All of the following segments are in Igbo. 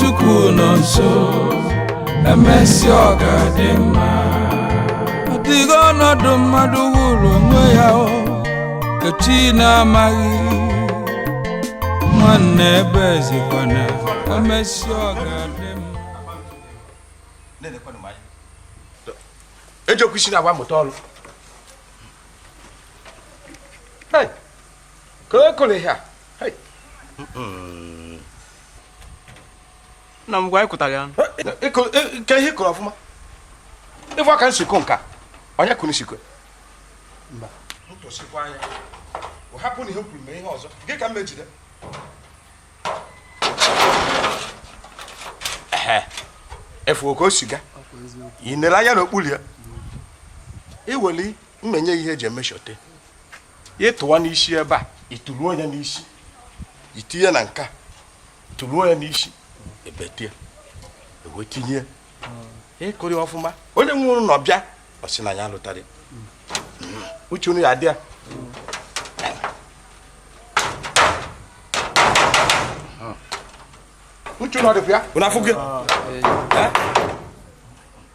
Chukwu nọ nso emesịa ọ ga-adị mma ọ dịghị ọnọdụ mmadụ hụrụ onwe ya nke chi na-amaghị nwanne ebezikwana emesịa ọ ga-adị mma ejekwa isi na agba mụta ọrụ ka o kụrụ ha nna m gwa anyị kụtara ya nke ihe kụrụ ọfụma ife ka nsikọ nka onye kụrụ nsikọ mba ntụsikwa anya hapụ na ihe kwuru mee ihe ọzọ gị ka m mejide ị fụ oke o si ga ị nere anya n'okpuru ya iweli mmenye ihe e ji emeshọte ị tụwa n'isi ebe a ị tụluo ya n'isi i tinye na nka tụluo ya n'isi ebetie wee tinye ị kụrụ ọfụma onye nwe ụlọ bịa ọ sị na ya lụtara uche unu ya dị ya uche unu ọ dịkwa ya unu afụgo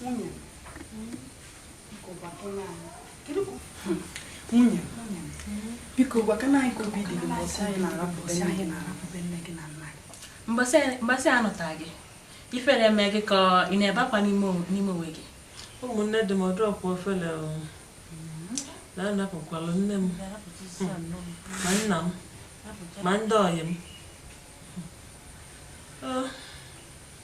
nwunye nwunye biko gwakana anyị ka obi dị gị mbọsị anyị na-arapụbe nne gị na nna gị mbọsị a nụta gị ifele eme gị ka ị na-ebe akwa n'ime onwe gị ụmụnne di m ọ dịrọkwa ofele na-anapụkwalụ nne m ma nna m ma ndị ọyị m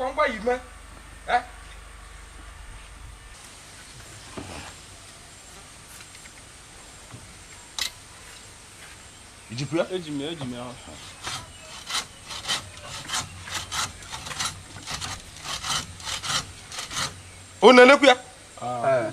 ngwa ngwa yi mee eh? i jikwa ya eji m ya eji m ya unu na-elekwa ya ah.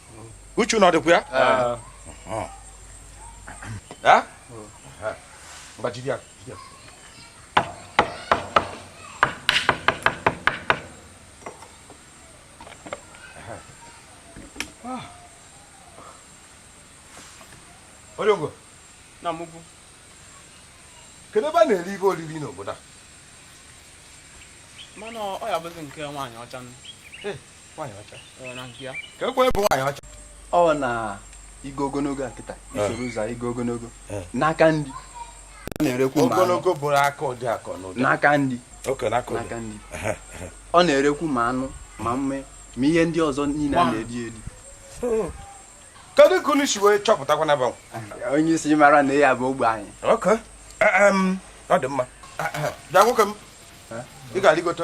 uche unu ọ dịkwa ya onye ogo na mụgwu kedu ebe a na-eri ife oriri n'obodo a mana ọ ya-abụzi nke nwaanyị ọcha ọ na igo ogologo a kịta isoro ụzọ igo ogologo n'aka ndị na-erekwu ogologo bụrụ aka ụdị akọ n'ụdị n'aka ndị n'aka ndị ọ na-erekwu ma anụ ma mme ma ihe ndị ọzọ niile a na-eri eri kedu ka unu si wee chọpụtakwa na banwe onye isi mara na ya bụ ogbe anyị ọ dị mma bịa nwoke m ị ga-arịgote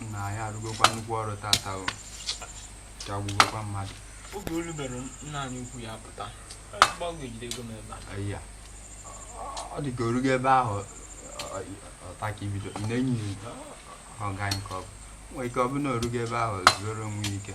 nna anyị arụgokwa nnukwu ọrụ tata ike agwụgokwa mmadụ oge olu mere nna anyị ukwu ya pụta gbanwe ejide ego m ebe a Aya. ọ dị ka o rugo ebe ahụ ọta ka ibido ị na-enyi ọga nke ọ bụ nwere ike ọ bụ na o rugo ebe ahụ zuoro onwe ya ike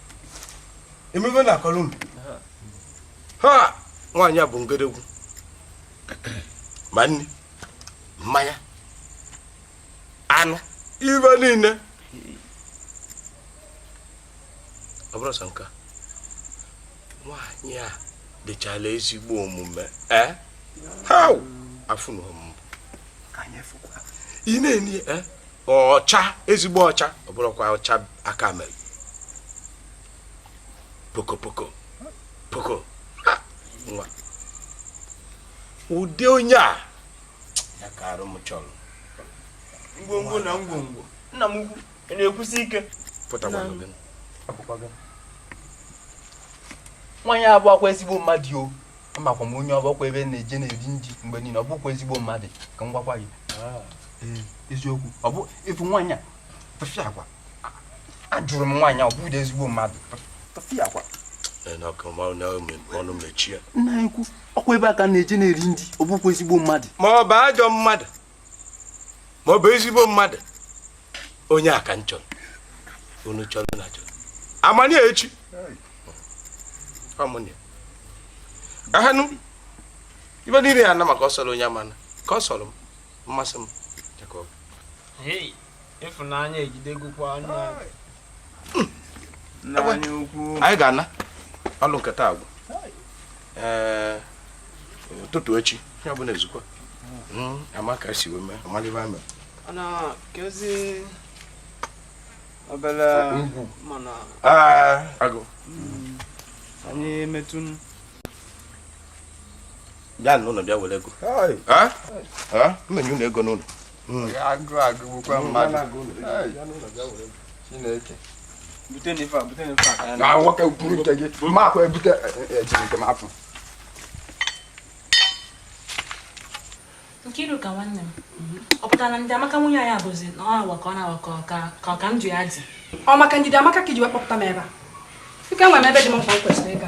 ị ma ihe m na-akọrọ unu ha nwaanyị a bụ ngedegwu ma nri mmanya anụ ihe niile ọ bụrụ sọ nke nwaanyị a dịchala ezigbo omume ee eh? ha afụ na ọmụmụ ị na-enye eh? ọcha ezigbo ọcha ọ bụrọkwa ọcha aka mere poko poko poko nwa ụdị onye a ya ka arụ m chọrọ ngwongwo na ngwongwo nna m ukwu na-ekwusi ike pụtakwa nwaanyị a bụkwa ezigbo mmadụ o amakwa m onye ọ bụ ọkwa ebe na-eje na-eri nri mgbe niile ọ bụkwa ezigbo mmadụ ka m gwakwa gị ah. eziokwu ọ bụ ịfụ nwaanyị a tufiakwa ajụrụ m nwaanyị a ọ bụrọ ezigbo mmadụ tufiakwa ọnụ mechie nna ekwu ọkwa ebe a ka na-eje na-eri nri ọ bụkwa ezigbo mmadụ ma ọ bụ ajọ mmadụ ma ọ bụ ezigbo mmadụ onye a ka m chọrọ unu chọrọ unu achọrọ amanye echi ọmụnye ahanụ ihe niile ya na maka ọ sọrọ onye amana ka ọ sọrọ m masị m Hey. ịfụnanya ejidegokwa nna anyị ukwu anyị ga-ana ọlụ nke taa agwụ ee ụtụtụ echi ihe ọbụla ezukwa hmm, ama ka si wee mee amalịbe amị obere ugwu mana agụ hmm. anyị emetụ bịa n'ụlọ bịa were ego m enye unu ego unu hmm. agụụ agụgbukwa hmm, mmadụ chineke nna nwoke kwuru nke gị ma akwa ebute ejiri nke m afọ Nkiruka nwanne m ọ pụtara na ndị amaka nwunye anyị abụzi na ọ na-awa ka ọ na-awa ka ọka m ji ya dị ọ maka njide amaka ka iji wee kpọpụta m ebe a ike nwe m ebe dị m mkpa m kwesịrị ịga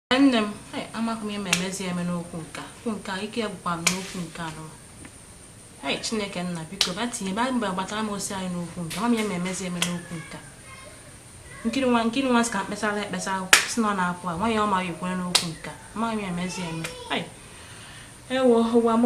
nne m amaghị m ihe m emezi eme n'okwu nka okwu nka ike ya gwụkwa m n'okwu nke a nụ hei chineke nna biko ba tinye bịa gbatara m ọsọ anyị n'okwu nka ama m ihe m emezi eme n'okwu nka Nkiru nwa Nkiru nwa sị ka m kpesara ekpesa sị na ọ na-apụ a nwaanyị ọma ya ekwere n'okwu nka amaghị m ihe m emezi eme ewo ụwa m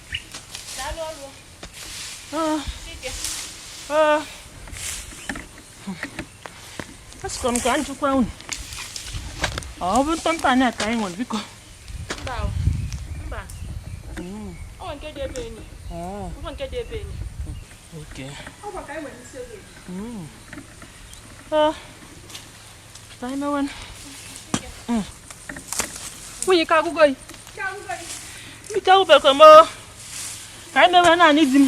asịkwa m ka m jụkwa unu ọ bụ ntọntọ anyị ka anyị nwere biko Okay. Oh. nwunye ike agwụgo yi ike agwụbekọ m ka anyị mewe naanị di m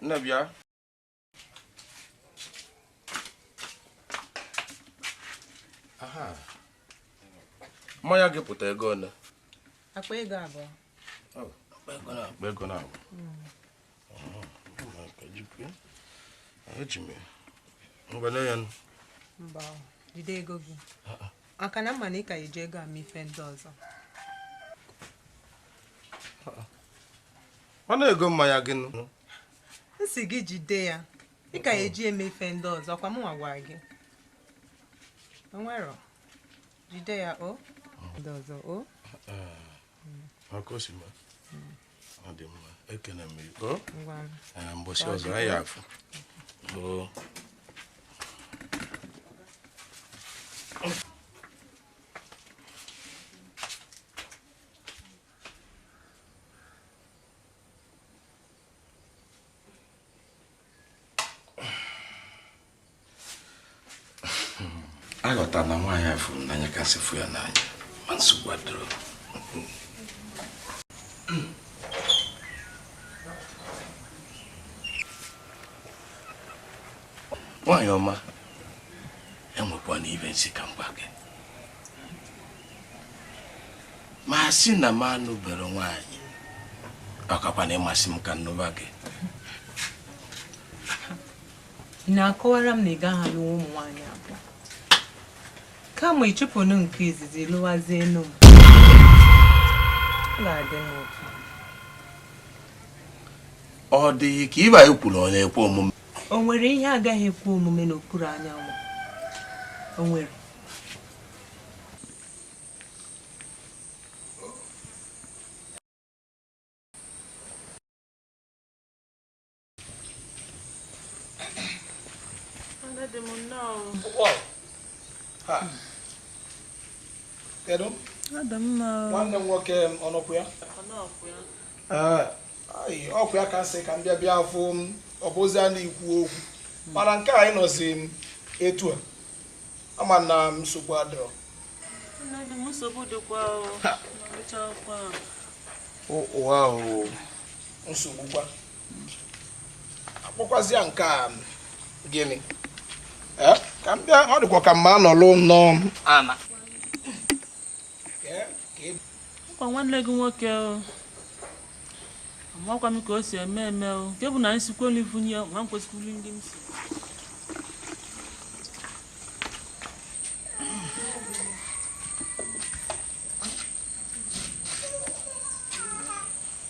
nne bịa mmanya gị pụta ego one akpa ego abụọ mba jide ego gị maka na m ma na ị ka eji ego eme ife ndị ọzọ mana ego mmanya gị nụ m sị gị jide ya ị ka eji eme ife ndị ọzọ ọ kwa mụnwa gwara gị o nwerọ jide ya o ndị ọzọ o ọ kasị mma ọ dị mma ekene m gị o mbọsị ọzọ anyị afụ aghọta na nwaanyị a fụrụ n'anya kasị fụ ya n'anya ma nsogbu adịrọ nwaanyị ọma enwekwanụ ife m sị ka m gwa gị ma a sị na m anụbero nwaanyị ọ kakwa na ị masị m ka m nụba gị Ị na-akọwara m na ị gaghị alụ ụmụ nwaanyị abụọ kama ị chụpụnụ nke izizi lụwazienụ m ga-adị m ụtọ ọ dị gị ka ihe anyị kwuru ọ na-ekwe omume o nwere ihe agaghị ekwe omume n'okpuru anyanwụ o nwere Kedu? Nwanne m nwoke ọ nọkwa ya? Ọ kwa ya ka m sị ka m bịa bịa afụ ọ bụzi a na-ekwu okwu mana nke a ị nọzi m etu a ama na nsogbu adịrọ ụwa nsogbu kwa akpọkwazịa nke a gịnị ka m bịa ọ dịkwa ka m ma anọlụ nnọọ ana ọ kwa nwanne gị nwoke amakwa m ka o si eme eme o nke bụ na m sikwa n'ifunye ma m kwesịkwuru ndị m si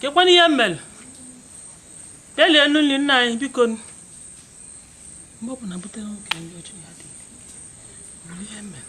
kekwanụ ihe m mere delie enu nri nna anyị biko mgbe ọ bụla butere nwoke ndị ọjọọ ya dị nwere ihe m mere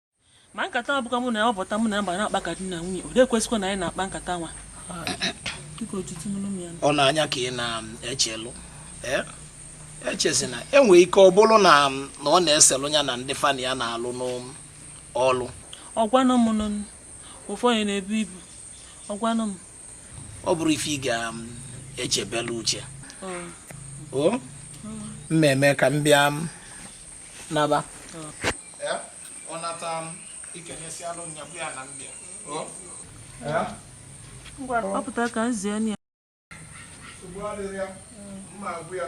ma nkata nwa bụkwa mụ na ya ọbọta mụ na ya mgbe na-akpa ka di na nwunye ọ dị ekwesịkwa na anyị na-akpa nkata nwa ọ na-anya ka ị na-echelụ eh? echezina e nwe ike ọ bụrụ na ọ na-eselụ ya na ndị fa na ya na-alụ n'ọlụ ọ gwanụ m ụfọdụ na-ebu ibu ọ gwanụ m ọ bụrọ ife ị ga-echebelụ uche o mmemme ka m bịa naba ya ọ nata m ikenyesi alụ nyabụ ya na mbịa ya ngwa kpọpụta ka m zie ya nsogbu adịrị ya mma agwụ ya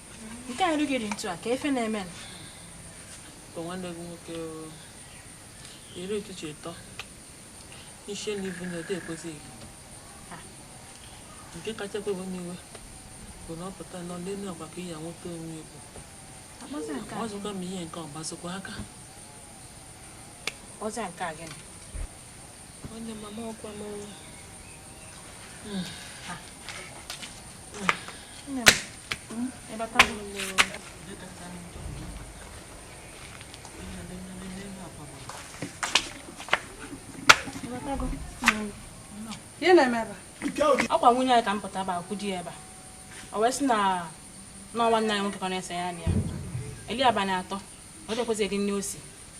nke a rugiri ntu a ka ife na-eme nwanne gị nwoke iri ụtụtụ ịtọ n'isi elu ibu na ode ekwesịghị nke kacha ewe m iwe bụ na ọ pụta nọ n'elu agwa ka ya nweta onwe igbo ọzụkwa m ihe nke ọgbazikwa aka ọzọ nke a gịnị Nwanne mama ọkwa m ọrụ. Hmm. Hmm. Hmm. Ebe aka m ihe na-eme ebe ọkwa nwunye anyị ka m pụtaba kwudo ya ebe a o wee sị na ọ nwanne anyị nwoke ka na-ese ya na ya eli abalị atọ ọ dịkwụzi gị nne osi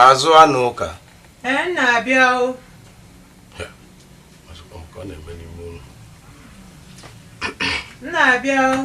azụ anụ ụka ee na-abịa o na-abịa o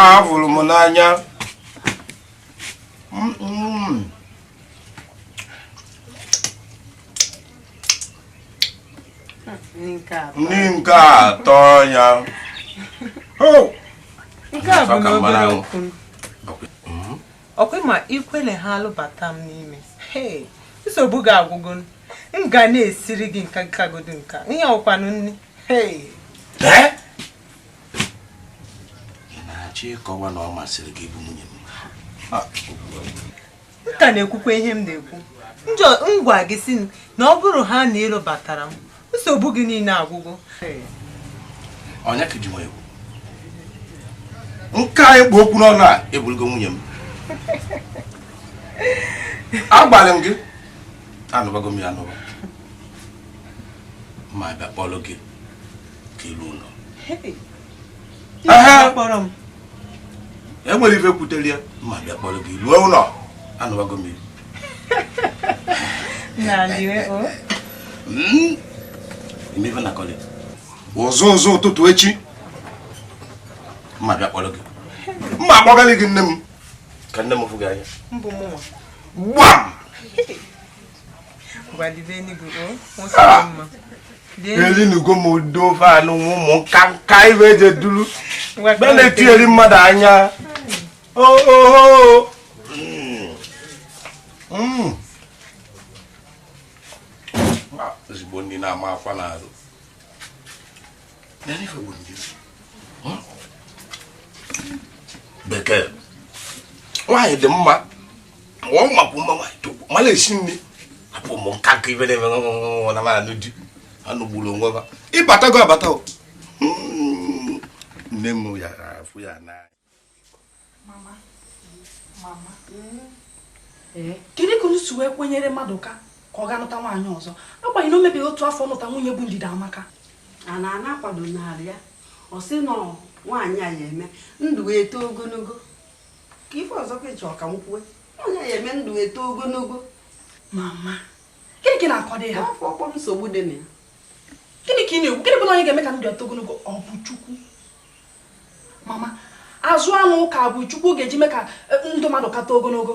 ahụrụ m n'anya ndị nke atọ ya ọkwa ma i kwele ha lụbata m n'ime nsogbu gị agwụgo m ga na-esiri gị nka nkagodo nka ihe ọkwanụ nne na-achọ ịkọwa na ọ masịrị gị ịbụ nwunye m m ka na-ekwukwa ihe m na-ekwu m gwa gị sị na ọ bụrụ ha na ị lụbatara m nsogbu gị niile agwụgo onye ka i ji nwa egwu nke anyị kpụ okwu n'ọnụ a ị bụrụgo nwunye m agwalị m gị anụbago m gị anụba ma abịa kpọrọ gị ka i luo ụlọ e nwere ife kpatara ya ma abịa kpọrọ gị ruo ụlọ anụwago m ife ị na-akọlị ụzọ ụzọ ụtụtụ echi mma abịa kpọrọ gị mma akpọgalị gị nne m ka nne m fụ gị anya gbam elinugo m udo ofe anụ nwa ụmụ nka nka ibe eje duru mgbe na-etinyeri mmadụ anya ooo mm. ezigbo ndị na-ama akwa n'azụ bekee nwaanyị dị mma ọ makwa mma nwaanyị togbu mala esi nni abụ m nka nke ibe na-eme nwa na mara di anụ gburu onwe ha ịbatago abata hmm. nne m ya afụ ya n'anya eh? kedu ka unu si wee kwenyere mmadụka ka ọ ga-anụta nwaanyị ọzọ agbanyeghị na o mebeghị otu afọ nụta nwunye bụ ndidiamaka and na-akwado n'ala ya ọ sị na nwaanyị a ya-eme ndụ wee too ogologo kee ife ọzọ ka ị chọ ka m kwuo onye ya-eme ndụ eto ogologo mama gịnị ka ị na-akọdị ha afọ ọkpọ nsogbu dị na ya gịnị ka ị na-ekwu gịnị bụ na onye ga-eme ka ndụ eto ogologo ọ bụ chukwu mama azụ anụ ụka bụ chukwu ga-eji mee ka eh, ndụ mmadụ ka eto ogologo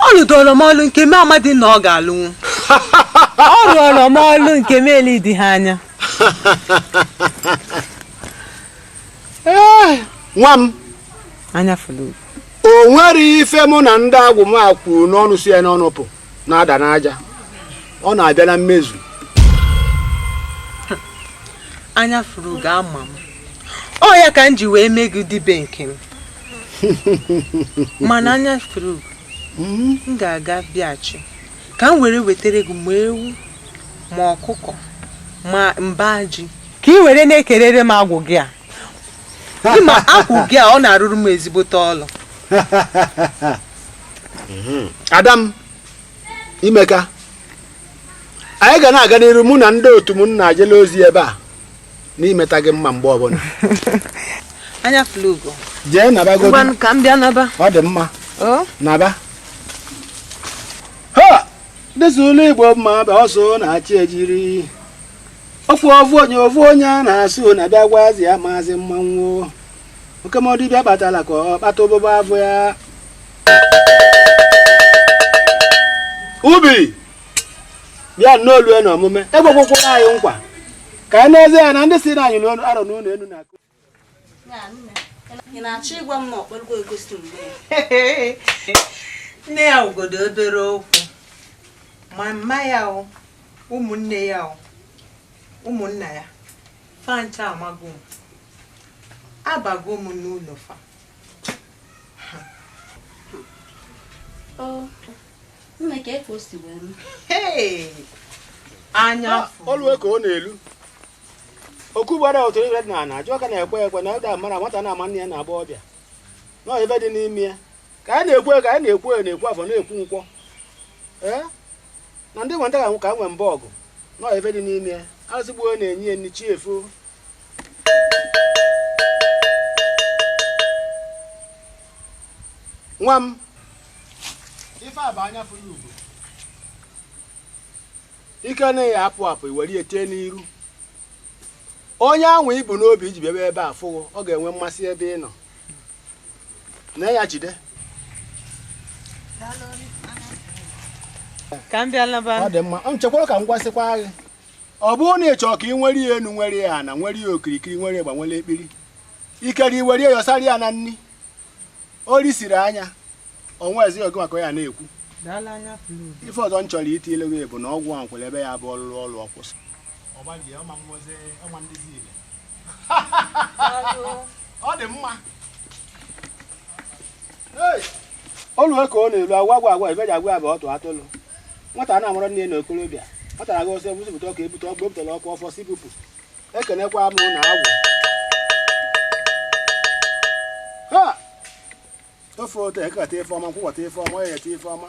ọ lụdoro m ọlụ nke m amadị na ọ ga-alụnwu ọ lụọlọ m ọlụ nke m eledị ha anya nwa m anyafụlụ o nwere ife mụ na ndị agwụ m a kwuru n'ọnụ si ya n'ọnụ pụ na-ada n'aja ọ na-abịa na mmezu anyafụrụgo ama m ọ ya ka m ji wee mee gị dibịa nke m mana anyafụrụgo hmm? m ga-aga bịachi ka m were wetara gị ma ewu ma ọkụkọ ma mba ji ka ị were na-ekerere m agwụ gị a ị ma agwụ gị a ọ na-arụrụ m ezigbote ọlụ hmm. ada m i meeka anyị ga na-aga n'iru mụ na ndị otu m na-ejela ozi ebe a n'imeta gị mma mgbe ọbụla anyafụlụugo jee naba godu ngwanụ ka m bịa naba ọ dị mma o naba ha dịsị ụlọ igbo mma bụ ọsọ na-achị ejiri ofu ofu onye ofu onye a na-asụ na bịagwazi ya maazị mmanwụ oke mọ dibịa kpatara ka ọ kpata ụbụbọ afọ ya ubi bịa nnọọ olue na omume ekwegokwara anyị nkwa ka anyị n'ezie ya na ndị si na anyị n'ọnụ arọ n'ụlọ elu na-akụ ị na-achọ ịgwa m na ọ kpọrọgo egosi mgbe ya nne ya ogodo obere okwu mama ya o ụmụnne ya o ụmụnna ya fa ncha amago m abago m n'ụlọ fa nne ka efe o si wee m Hey! anya afọ olue ka ọ na-elu okwu gbara otu ibe dị n'ala ajụ ka na-ekwe ekwe na ụda mara nwata na-ama nne ya na-agba ọbịa nọọ ibe dị n'ime ya ka anyị na-ekwu eke anyị na-ekwu oye na-ekwu afọ na-ekwu nkwọ ee na ndị nwata ka nwe mbọ ọgụ nọọ ibe dị n'ime ya azụgbuo na-enye ya nni chi efo nwa m ife a bụ anya fụrụ ugo ike anaghị apụ apụ i were ya tee n'iru onye ahụ i bu n'obi i ji bịaba ebe a fụ gị ọ ga-enwe mmasị ebe ị nọ na ya jide ka m bịa laba ọ dị mma m chekwara ka m gwasịkwa gị ọ bụrụ na ị chọọ ka ị nwere ya enu nwere ya ana nwere ya okirikiri nwere ịgba nwere ekpiri ikere i were ya yọsara ya na nri o risiri anya ọnwa ezi oge maka ya na-ekwu ife ọzọ m chọrọ iti ilu gị bụ na ọgwụ ahụ kwere ebe ya bụ ọ lụlụ ọlụ ọ kwụsị ọ dị mma olu ka ọ na-elu agwa agwa agwa ibeji agwa bụ ọtụ atụlụ nwata na-amụrụ nne na okorobịa nwata na-aga ọsọ ebusipụta ọka ebute ọkụ ebutela ọkụ ọfọ si bupụ ekenekwa m na agwụ ha ofe ote eke keta ife ọma nkwọ kwọta ife ọma eyeta ife ọma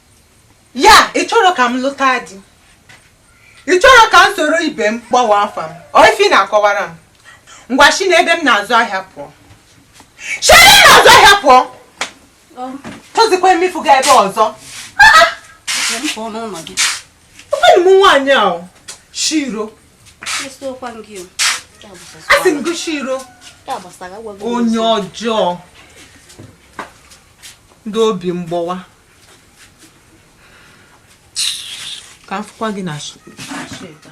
ya ị chọrọ ka m lụta di ị chọrọ ka m soro ibe m kpọwa afa m ọ ife ị na-akọwara m ngwa si n'ebe m na-azụ ahịa pụọ si ebe m na-azụ ahịa pụọ achọzikwa m ịfụ gị ebe a ọzọ ụfọdụ m nwaanyị a shiro asị m gị shiro onye ọjọọ ndị obi mgbawa ka m fụkwa gị na sheta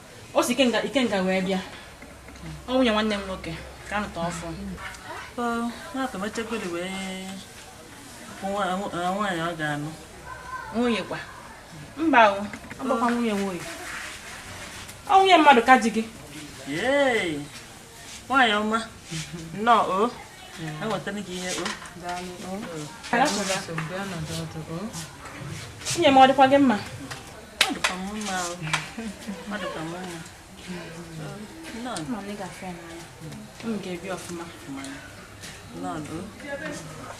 o si ikenga ikenga wee bịa ọ nwunye nwanne m nwoke ka a nụta ọfụụ na-atọmachagori wee nwaanyị ọ ga-anụ nwunye kwa mba o ọ bụkwa nwunye nwunye ọ nwunye mmadụ ka di gị nwaanyị ọma nnọọ o enwetara gị ihe o nwunye m ọ dịkwa gị mma ọ dịkwa m mma o ọ dịkwa m mma nnọọ m ga-ebi ọfụma nnọọ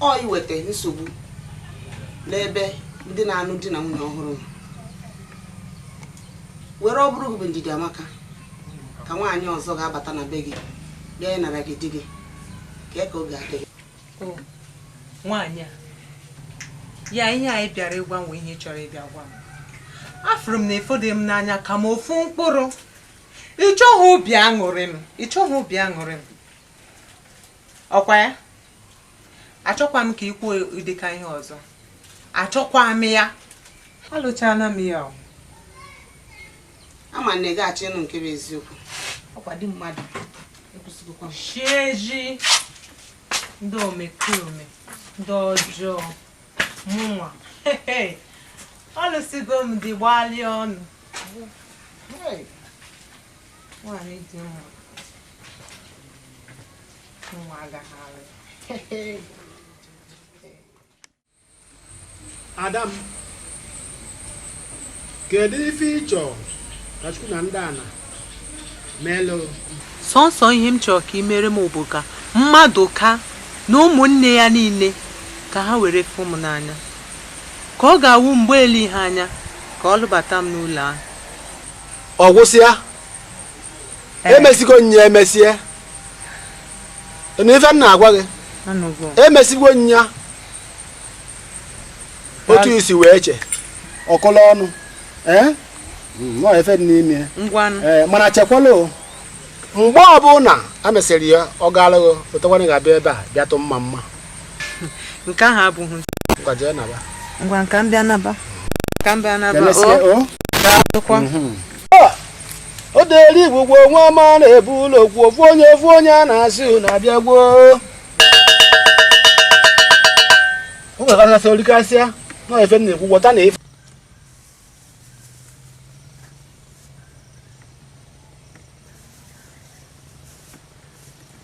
ọ ya-eweta nsogbu n'ebe ndị na-anụ di na nwunye ọhụrụ nọ were ọ bụrụ gị bụ Ndidiamaka ka nwaanyị ọzọ ga-abata na be gị bịa ịnara gị di gị kee ka ọ ga-adị gị nwaanyị a ya ihe a ị bịara ịgwa m ihe ị chọrọ ịbịa gwa m afụrụ m na ịfọdụ m n'anya ka m ofu mkpụrụ ị chọghị obi aṅụrị m ị chọghị obi aṅụrị m ọ kwa ya achọkwa m ka ị kwuo ụdịka ihe ọzọ achọkwa m ya alụchana m ya o. ama m na ị ga-achọ ịnụ nke bụ eziokwu ọ kwa di mmadụ ekwesịghịkwa m. chieji ndị omekome ndị ọjọọ mụnwa ọ lụsigo m dị gbalịa ọnụ Hey. nwaanyị dị mma Ada m kedu ife ị chọọ ka Chukwu na ndị ana meelụ sọnsọ ihe m chọrọ ka ị mere m bụ ka Madụka na ụmụnne ya niile ka ha were fụ m n'anya ka ọ ga-awụ mgbe eleghị anya ka ọ lụbata m n'ụlọ ahụ ọ gwụsịa emesigo nya emesie n'ife m na-agwa gị emesigo nya otu i si wee che ọkụla ọnụ eh? hmm, n'ife dị n'ime eh, mana chekwa na mgbe ọbụla e mesịrị ya ọ gaalụ gị lotekwa na ị ga-abịa ebe a bịa tụ mma mma nke ahụ abụghị ngwa ka m bịa naba ka m bịa naba o dere igbo gwuo nwa ọma na-ebu ụlọ kwuo ofu onye ofu onye a na-asị unu abịa gwuo o nwere kasasị orikasịa na efe m na-ekwu gwọta na efe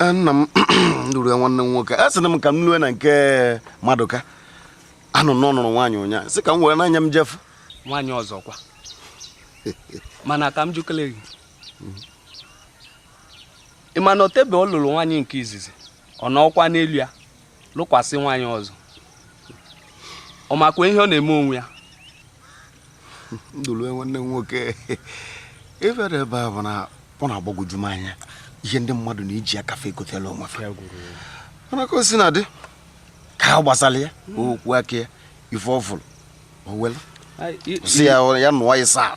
Eh, nna m Ndụlue nwanne m nwoke asịrị m ka m lue na nke Madụka anụ m na ọ nụrụ nwaanyị ụnyaahụ sị ka m were n'anya m je fụ nwaanyị ọzọ kwa mana ka m jụkele gị ị ma na o tebe ọ lụrụ nwaanyị nke izizi ọ nọkwa n'elu ya lụkwasị nwaanyị ọzọ ọ makwa ihe ọ na-eme onwe ya Ndụlue nwanne m nwoke ife dị ebe a bụ na ọ na-agbagwoju m anya ihe ndị mmadụ na-eji aka fa ekotela onwe fa mana ka o sina dị nke a gbasara ya okwu aka ya ife ọ fụrụ o welu si ya ya nụwa ya saa